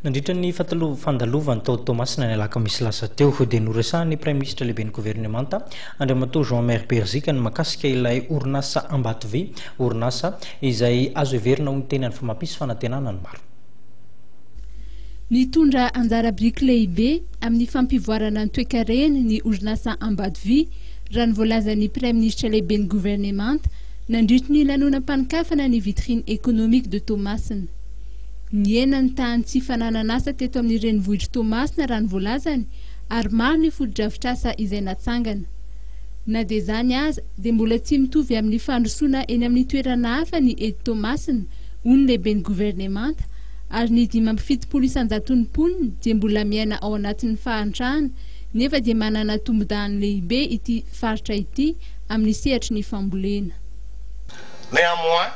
Nandritra ny fandalovany tao Toamasina ny alakamisy lasa teo dia noresahan'ny Praiminisitra Lehiben'ny Governemanta, Andriamatoa Jean Maire Berzika ny mahakasika ilay orinasa Ambatovy, orinasa izay azo heverina ho niteny any fa mampisy fanantenana ny maro. Nitondra anjara biriky lehibe amin'ny fampivoarana ny toekareny ny orinasa Ambatovy raha ny voalazan'ny Praiminisitra Lehiben'ny Governemanta nandritry ny lanonam-panokafana ny Vitrine Economique de Toamasina. Nihena ny tahan'ny tsy fananan'asa teto amin'ny renivohitr'i Toamasina raha ny voalazany ary maro ny fotodrafitrasa izay natsangana. Na dia izany aza dia mbola tsy mitovy amin'ny fandrosoana eny amin'ny toerana hafa ny eto Toamasina, hoy ny lehiben'ny governemanta, ary ny dimy amby fitopolo isan-jaton'ny mponina dia mbola miaina ao anatin'ny fahantrana nefa dia manana tombondahany lehibe ity faritra ity amin'ny sehatry ny fambolena. Néanmoins,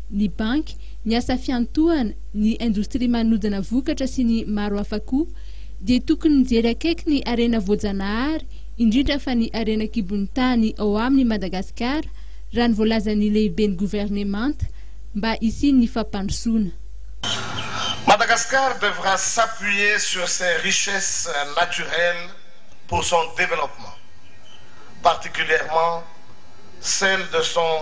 ny banky, ny asa fiantohana, ny indostria manodina vokatra sy ny maro hafa koa, dia tokony mijery akaiky ny harena voajanahary, indrindra fa ny harena an-kibon'ny tany ao aminy Madagasikara, raha ny voalazan'ny lehiben'ny governemanta, mba hisian'ny fampandrosoana. Madagascar devra s'appuyer sur ses richesses naturelles pour son développement, particulièrement celles de son.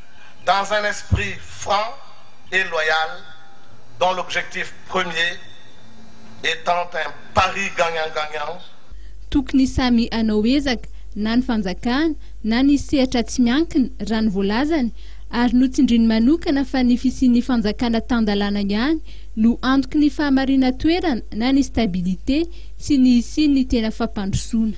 dans un esprit franc et loyal dont l'objectif premier etant un pari gagnant gagnant, Tokony samy hanao ezaka, na ny fanjakana, na ny sehatra tsy miankina, raha ny voalazany, ary notsindriany manokana fa ny fisian'ny fanjakana tan-dalàna ihany no antoky ny fahamarinan-toerana na ny stabilité sy ny hisian'ny tena fampandrosoana.